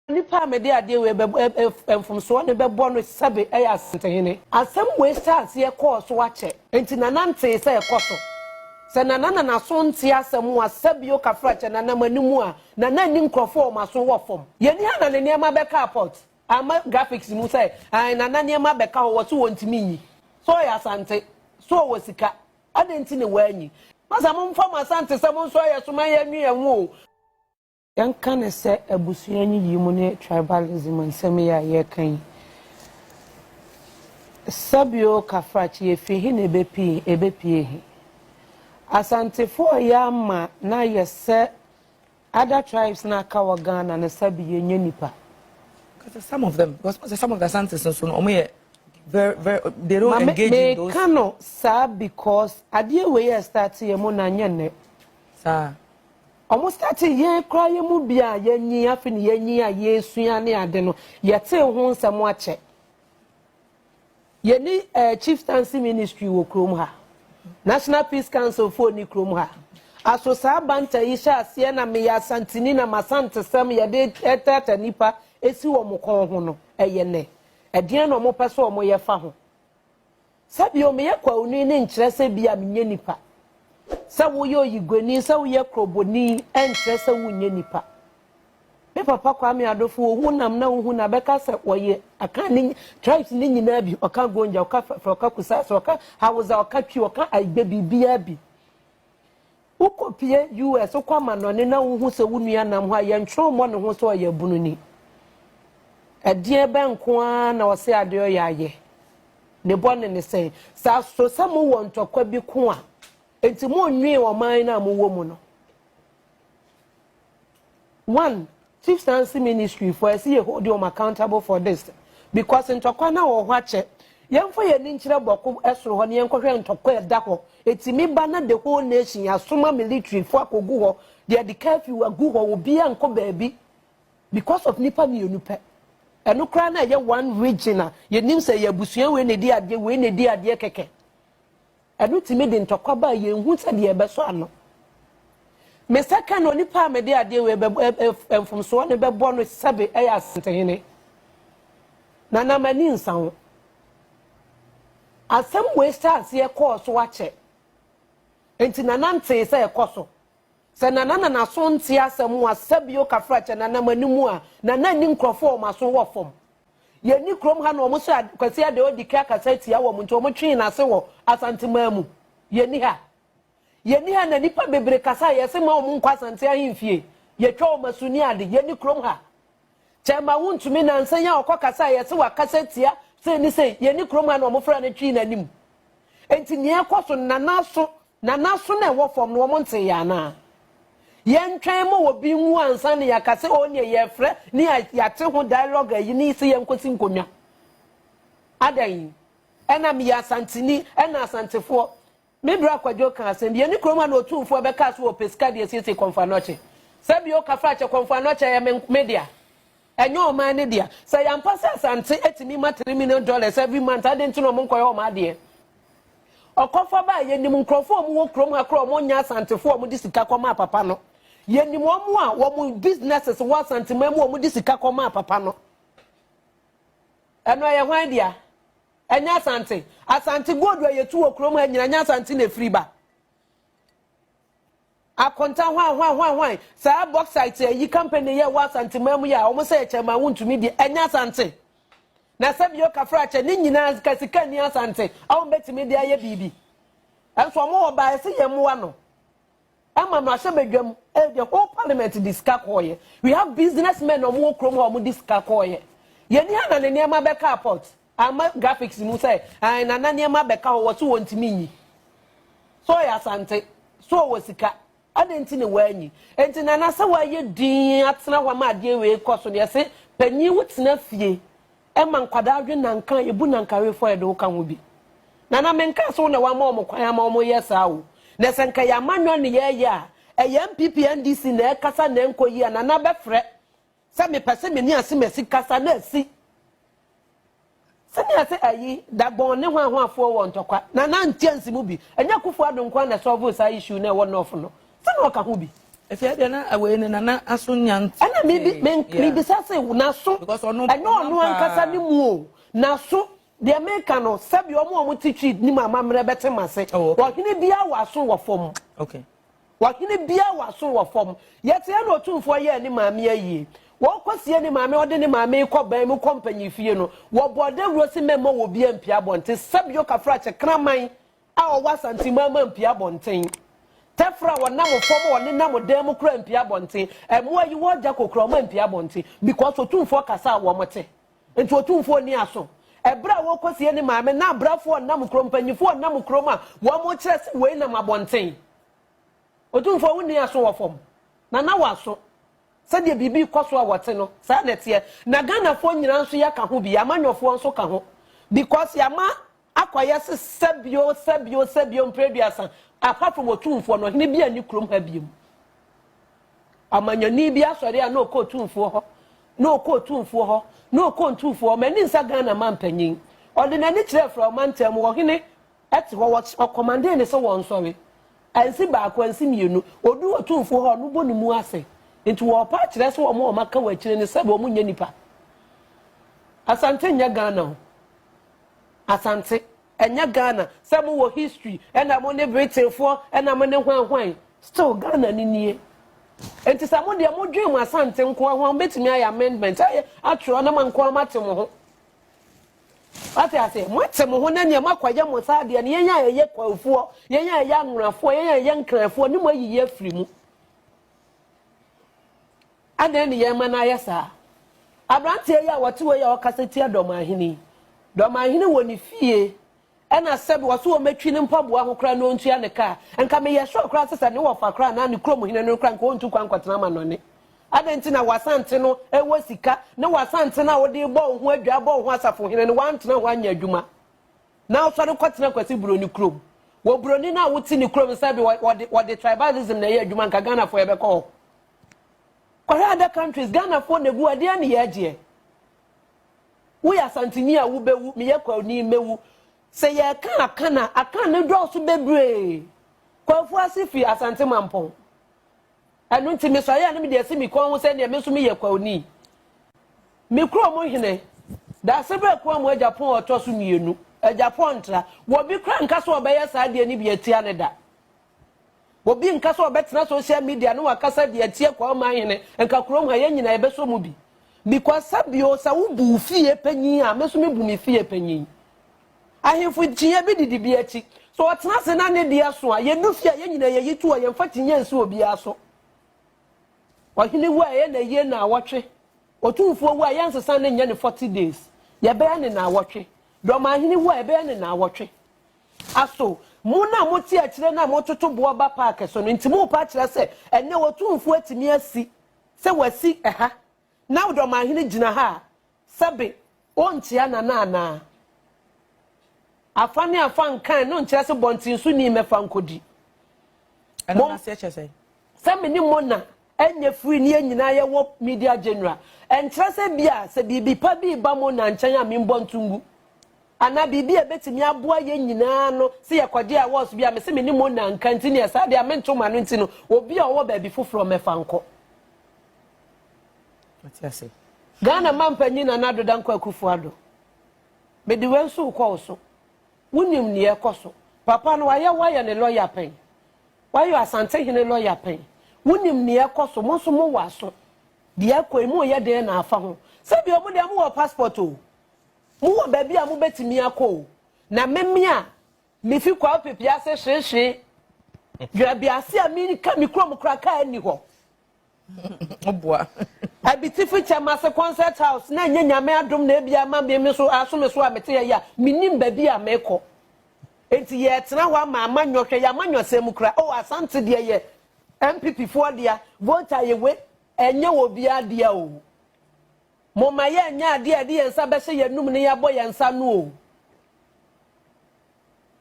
Nipa a mede adeɛ wei bɛbɔ ɛ ɛ mfomsoɔ no bɛbɔ no sɛbe ɛyɛ asantehene. Asɛm wei hyɛɛ aseɛ kɔɔ so akyɛ, enti Nana ntee sɛ ɛkɔ so. Sɛ Nana na n'aso nte asɛm ho a, sɛbe ɔka fra kyɛ Nana m'anim a, Nana nni nkurɔfoɔ a wɔn aso wɔ fam. Yɛn ni ha na ne nneɛma bɛkaa port. Ama graphics mu sɛ ae nana nneɛma bɛka hɔ wɔse wɔntumi nyi so ɔyɛ asante so ɔwɔ sika adɛn nti na wɔanyi. Masa momfa mo asantesɛm nsɔ yɛ so ma yɛnwe yɛn ho o. Yɛnka no sɛ abusua nyiyimu ne tribalism nsɛm yi a yɛreka yi. Sɛbio Kafrakye yɛfiri he na ɛbɛpii ɛbɛpie he? Asantefo a ɔyɛ ama no ayɛ sɛ Other tribes na aka wɔ Ghana no sa bi yɛnyɛ nipa. Kasa some of them because wɔn some of the Asantes nso no wɔn yɛ very very they don't engage in those. Maame meka no saa because adeɛ wei yɛ start yɛ mu na nyɛ nnɛ. Saa. Ɔmo start yɛn koraa yɛ mu bi a yɛnyi afi ne yɛnyi a yɛsua ne ade no yɛtee ho nsɛm akyɛ. Yɛnni eh, Chieftaincy Ministry wɔ kurom ha. National Peace Council foɔ nni kurom ha. Aso saa banter yi hyɛ aseɛ na meyɛ Asanteni na m'Asantesɛm yɛde tɛɛtɛɛtɛ nnipa si wɔn kɔn ho no, ɛyɛ nɛ? Ɛdeɛn na wɔpɛ sɛ wɔyɛ fa ho? Sɛ bio, meyɛ Kwauni no nkyerɛ sɛ bia menyɛ nipa. Sɛ woyɛ Oyiguani, sɛ woyɛ Kroboni, ɛnkyerɛ sɛ wonyɛ nipa. Me papa Kwame Adofo ohu nam na wohu na bɛka sɛ wɔyɛ Akan ne tribes ne nyinaa bi. Ɔka Gonja, ɔka Fɛfrɛ, ɔka Kusasa, ɔka Hausa, ɔka Twi, ɔka Aigbe biribiara bi. Wokɔpie US, wokɔ amanɔne na wohu sɛ wo nua nam hɔ a yɛntwerɛ mmɔ ne ho sɛ ɔyɛ abununi. Ɛdeɛ bɛn nko ara na ɔse adeɛ ɔyɛ ayɛ? Ne bɔne ne sɛn? Sɛ aso sɛ mowɔ ntɔkwa bi ko a, enti monnwee ɔman no a mowɔ mu no? One, Fifth Nancy Ministry fo ɛsɛ yɛ hold wɔn accountable for this because ntɔkwa na wɔ hɔ akyɛ. Yɛnfa yɛn ani nkyerɛ bɔko ɛsoro hɔ na yɛn kɔhwɛ ntɔkwa ɛda hɔ. Ɛtumi ba na the whole nation yɛasoma military fo akɔgu hɔ, yɛde curfew agu hɔ, obiara nkɔ baabi because of nipa mmienu pɛ. Ɛno koraa na ɛyɛ one region a yɛnim sɛ ɛyɛ abusua wei na ɛdi adeɛ, wei na ɛdi adeɛ kɛkɛ. Ɛno tumi de ntɔkwa ba a yenhu sɛdeɛ ɛbɛsɔ ano. Me sakan onipa a mede adeɛ wei bɛbɔ ɛ ɛ ɛ mfomsoɔ no bɛbɔ no sɛbe ɛyɛ Asantehene. Na na m'ani nsa ho. Asɛm wei hyɛɛ aseɛ kɔɔ so akyɛ. Enti Nana ntee sɛ ɛkɔ so. Sɛ Nana na n'aso nte asɛm a sɛbe okafra kyɛ Nana m'anim a, Nana nni nkurɔfoɔ a wɔn aso wɔ fam. Yɛnni kurom ha na wɔn sɛ Kwasi Adeodike akasa atia wɔn nti wɔn twee n'ase wɔ Asanteman mu. Yɛnni ha. Yɛnni ha na nnipa bebree kasa a yɛse mma wɔn nkɔ Asante ahemfie. Yɛtwa wɔn asu ne ade. Yɛnni kurom ha. Kyɛma wontumi nansa yi a ɔkɔ kasa a yɛse wakasa atia sei ne sei. Yɛnni kurom ha na wɔn fra no twee n'anim. Enti nea ɛrekɔ so no, n'anaso, n'anaso no a ɛwɔ fam no, wɔntee yɛn anaa? Yɛntwɛn ma obi nwu ansa na yɛaka sɛ, o nea yɛrefrɛ ne a yɛate ho dialogue ayi ne sɛ yɛnkɔsi nkonnwa. Adɛn? Ɛna meyɛ Asanteni, ɛna Asantefoɔ. Me bra Kwadwo kaa asɛm bi, yɛne kurom a na Otumfoɔ bɛkaa so wɔ Pesika de asiesie Kɔmfo Anɔkye. Sɛ bio, Kafrakyɛ, Kɔmfo Anɔkye yɛ me dea. Ɛnyɛ ɔman no dea. Sɛ ɛyɛ ampa sɛ Asante atumi ma three million dollars every month a, adɛn nti na wɔnkɔyɛ wɔn adeɛ? Ɔkɔfa baa yɛnim nkurɔfoɔ a wɔwɔ kurom ha koraa a wɔnyɛ Asantefoɔ a wɔde sika kɔmaa papa no. Yɛnim wɔn a wɔn businesses wɔ Asanteman mu a wɔde sika kɔmaa papa no. Ɛno ɛyɛ hwan dea? Ɛnyɛ Asante. Asante gold a yɛtu wɔ kurom ha nyina nyɛ Asante na ɛfiri ba. Akonta hwan hwan hwan hwan saa bauxite ayi company yɛ wɔ asante man mu yi a wɔn sɛ yɛ kyɛn man wo ntumi deɛ ɛnyɛ asante na sɛ bio kafra kyɛ ne nyinaa ka sika ni asante a wɔn bɛtumi deɛ ayɛ biribi ɛnso wɔn wɔ baa ɛsɛ yɛn mmoa no ɛma no ahyɛ badwam ɛyɛ the whole parliament de sika kɔɔyɛ we have business men wɔn wɔ kurom hɔ wɔn de sika kɔɔyɛ yɛn ni ha na ne nneɛma bɛka apɔt. Ama graphics mu sɛ ae nana nneɛma bɛka hɔ wɔso wɔntumi nyi so ɔyɛ asante so ɔwɔ sika adɛn nti na wɔanyi nti nana sɛ wɔayɛ din atena hɔ ama adeɛ wei kɔ so deɛ se panyin wo tena fie ɛma nkwadaa dwe nanka yɛbu nankawefoɔ yɛde wo ka ho bi nana menka so na wɔama wɔn kwan ama wɔn yɛ saa o na sɛ nka yɛama nnwa ne yɛyɛ a ɛyɛ npp ndc na ɛkasa na ɛnkɔ yi a nana bɛfrɛ Sɛ mepɛ se me ne asemasi kasa na asi. Sɛnea sɛ ayi, Dagbon ne Hwanhwafoɔ wɔ ntɔkwa. Nana Ntiansi mu bi. Ɛnyɛ Akufo Addo nko ara na ɛsɔɔvoo saa issue no a ɛwɔ North no. Sɛ na ɔka ho bi. Ɛfei ɛdeɛ na wei no Nana aso nnya ntee. Ɛna mebi, me, mebisa se n'aso, Because ɔno, ɛnyɛ ɔno ɔnam ankasa paa. ne mu o, n'aso, deɛ meka no, sɛdeɛ wɔn a wɔte Tweed no mu amammerɛ bɛte m'ase, Oh, okay. Ɔhene biara wɔ aso wɔ fam. Okay. Ɔhene biara wɔ aso wɔ fam. Yɛteɛ na Otumfoɔ yɛɛ ne maame ayie. Wɔrekɔsie ne maame a ɔde ne maame rekɔ ban mu kɔ mpanyinfie no, wɔbɔɔ dawuro se mɛmma wɔbia mpia abɔnten. Sɛbio Kafrakye kraman a ɔwɔ Asanteman mma mpia abɔnten. Tɛfra a ɔnam fam a ɔnenam dan mu koraa mpia abɔnten. Mmoa a yiwɔ gya kokoraa ɔmma mpia abɔnten because Otumfoɔ kasa a wɔte. Enti Otumfoɔ nni aso. Ɛberɛ a wɔrekɔsie ne maame na abrɛfoɔ ɔnam kurom, mpanimfoɔ ɔnam kurom a wɔrekyerɛ sɛ wei nam abɔnten. Otumfoɔ wonni aso wɔ fam. Na na w'aso. Sɛdeɛ biribi rekɔ so a wɔte no, saa na ɛteɛ. Na Ghanafoɔ nyinaa nso yɛka ho bi. Yɛn amanyɔfoɔ nso ka ho. Because yɛama Akɔyɛ se sɛ bio, sɛ bio, sɛ bio mpre aduasa, apart from Otumfoɔ no, ɔhene bia nni kurom ha biom. Ɔmanyɔni bi asɔre a na ɔkɔ Otumfoɔ hɔ, na ɔkɔ Otumfoɔ hɔ, na ɔkɔ Ntumfoɔ hɔ, m'ani nsa Ghana manpanyin. Ɔde n'ani kyerɛɛ fra ɔmantam mu, ɔhene te hɔ, ɔkɔmandee ne sɛ wɔnsɔre. Ansi baako, ansi mmienu. Ɔduu Otumfoɔ hɔ a, ɔno bɔ ne mu ase. Nti wɔɔpa akyerɛ sɛ wɔn a wɔaka wɔ akyire no sɛ wɔn nyɛ nipa. Asante nyɛ Ghana o. Asante, ɛnyɛ Ghana, sɛ mo wɔ history ɛna mo ne Britain foɔ ɛna mo ne hwan hwan, still Ghana no nie. Nti sɛ mo deɛ mo dwen mo Asante nkoa ho a mo bɛtumi ayɛ amendment ayɛ atwerɛ na mo nkoa mo ate mo ho. Wate aseɛ, mo ate mo ho na neɛ mo akɔ ayɛ mo saa deɛ no yɛn a ɛyɛ Kwanfoɔ, yɛn a ɛyɛ Anwonafoɔ, yɛn a ɛyɛ Nkranfoɔ ne mo ayiyi afiri mu. Adɛn ne yɛn ma no ayɛ saa? Aberanteɛ yi a wɔte hɔ yi a ɔkasa tia Dɔmanhene yi, Dɔmanhene wɔ ne fie ɛna sɛbi ɔse wɔmɛtwi ne mpaboa ho koraa na ɔntua ne kaa. Nka meyɛ sure koraa sɛ sɛ ne wɔfa koraa anaa ne kurom hene no koraa nka ɔntu kwan nkɔtena amanɔne. Adɛn nti na w'Asante no wɔ sika ne w'Asante no a wode rebɔ wo ho adwaa rebɔ wo ho asafohene no woantena hɔ anyɛ adwuma na wosɔre kɔtena Kwasi Buroni kurom? Wɔ Buroni no a wote ne kurom no sɛbi wɔde wɔde tribalism na ɛyɛ adwuma nka Ghanafoɔ yɛbɛkɔ hɔ. Kɔhwɛ other countries, Ghanafoɔ na ɛgu hɔ, ɛdeɛn ne yɛn gyeɛ? Woyɛ Asanteni a wobɛwu, meyɛ Kwauni mɛwu. Sɛ yɛreka Akan a, Akan no dɔɔso bebree. Kwafu ase firi Asante Mampɔn. Ɛno nti mesɔre a na mede asi me kɔn ho sɛ deɛ me nso meyɛ Kwauni. Me kurom hene, Daasebrɛ Kuamu Agyapong a ɔtɔ so mmienu, Agyapong Ntra, wɔ bi koraa nka sɛ ɔbɛyɛ saa deɛ no bi atia no da. Obi nka sɛ ɔbɛtena social media ne wakasa de atie kwa ɔman hene nka kurom ha yɛn nyinaa yɛbɛsɔ mu bi because sɛ bio sɛ wo bu wo fie panyin a me so me bu me fie panyin ahemfo kyinyɛ bi didi bi akyi sɛ ɔtena se na ne de aso a yɛdu fie a yɛn nyinaa yɛyi to a yɛmfa kyinyɛ nsi obiara so ɔhene wu a ɛyɛ na yie na awɔtwe otumfoɔ wu a yɛnsesa ne nyɛ ne 40 days yɛbɛyɛ ne na awɔtwe dɔmahene wu a yɛbɛyɛ ne na awɔtwe Aso mo na mote akyire no a mototo boɔ ba park so no nti morepa akyerɛ sɛ ɛnnɛ Otumfoɔ atumi asi sɛ wasi ɛha na Ɔdɔmahene gyina ha a sɛbe ɔnkyea Nana anaa? Afa ne afa nkan no nkyerɛ sɛ bɔnten so ni mmɛfa nkɔdi. Ɛno no aseɛ kyerɛ sɛn? Sɛ me ne Mona nyɛ free ne yɛn nyinaa yɛwɔ media general, ɛnkyerɛ sɛ ebia sɛ biribi pa bi reba Mona nkyɛn a membɔ nto ngu. Anaa biribi a ebetumi aboa yɛn nyinaa ano sɛ yɛkɔgye awards bi a mese me ne Mona nka nti neɛ saa deɛ mento m'ano nti no obi a ɔwɔ baabi foforɔ mmɛfa nkɔ. Wate ase? Ghana Mampanyin Nana Ado Dankwa Akufo-Addo, mede wei nso rekɔ wo so. Wonim nea ɛkɔ so. Papa no wayɛ woayɛ ne lɔya pɛn? Woayɔ Asantehene lɔya pɛn? Wonim nea ɛkɔ so? Mo nso mowɔ aso. Deɛ ɛkɔ yi, moreyɛ dɛn na afa ho? Sɛdeɛ wɔn deɛ, mowɔ passport o. Mowɔ baabi a mobɛtumi akɔ o. Na me me a mefi Kwawo Pepease hwee hwee, Dwerabiase a meka me kurom koraa kaa nni hɔ. Ɔboa. Abitifi kyɛm ase concert house na ɛnyɛ nyame adom na ebi ama me me so aso me so a mete yɛ yi a menim baabi a mekɔ enti yɛtena hɔ ama ama nyɔ hwɛ yama nyɔ sɛ mu kura oh asante deɛ yɛ MPP foɔ dea vote ayewe ɛnyɛ wɔ biara dea o mo ma yɛ nyɛ adeɛ a ɛde yɛn nsa bɛhyɛ yɛn num ne yɛabɔ yɛn nsa no o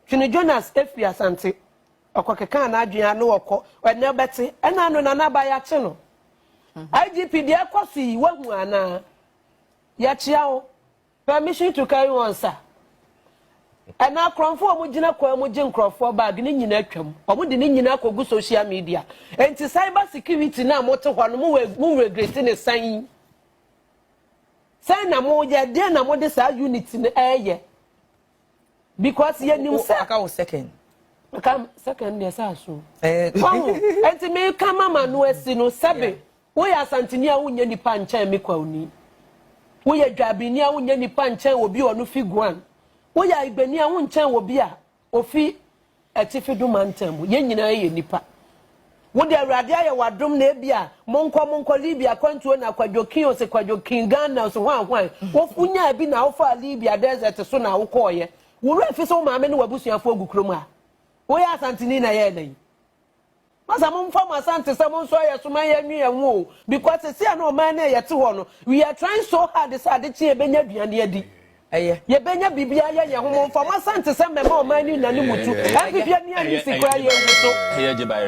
Twene Jonas efiri asante Ɔkɔkekaa n'adwene a na ɔkɔ ɛnɛ ɔbɛte ɛna ano na n'aba yɛakye no. IGP deɛ ɛkɔ so yi wahu anaa? Yɛkyea wo. Permission to carry on sir. Ɛna akorɔmfo a wɔgyina kwan mu gye nkurɔfoɔ bag ne nyinaa atwam. Wɔde ne nyinaa akɔgu social media. Enti cyber security no a mote hɔ no mo mo regret ne san yi. Sɛn na moyɛ deɛ na mode saa unit no ɛyɛ. because yɛnim sɛ. aka wo second. nka second deɛ sɛ aso. Eh. wahu nti meka mama no asi no sɛbe woyɛ asanteni a wonyɛ nipa nkyɛn me kwawuni woyɛ dwabini a wonyɛ nipa nkyɛn obi ɔno fi guan woyɛ ibani a wonkyɛn obi a ofi Atifi du mantam mu. Yɛn nyinaa yɛ nnipa. Wo de, Awurade ayɛ wo adom na ebia, monkɔ, monkɔ, Libya akwantuo na Kwadwo King ose Kwadwo King, Ghana ose hwan, hwan, wo, wonyaa bi na wofaa Libya desert so na wokɔɔeɛ. Wo werɛ fi sɛ wo maame ne w'abusuafoɔ gu kurom ha? Woyɛ Asanteni na yɛɛ na yi? Masa mo nfa mo asante sɛ mo nso ayɛ so ma yɛn nwe yɛn ho o because sɛsi a na ɔman no a yɛte hɔ no we are trying so hard sɛ ade kye yɛbɛnya aduane adi ɛyɛ yɛbɛnya biribi ayɛ yɛn ho mo nfa mo asante sɛ mɛma ɔman no nya ne mutu ɛnfifie nnuane si koraa yɛn gu so.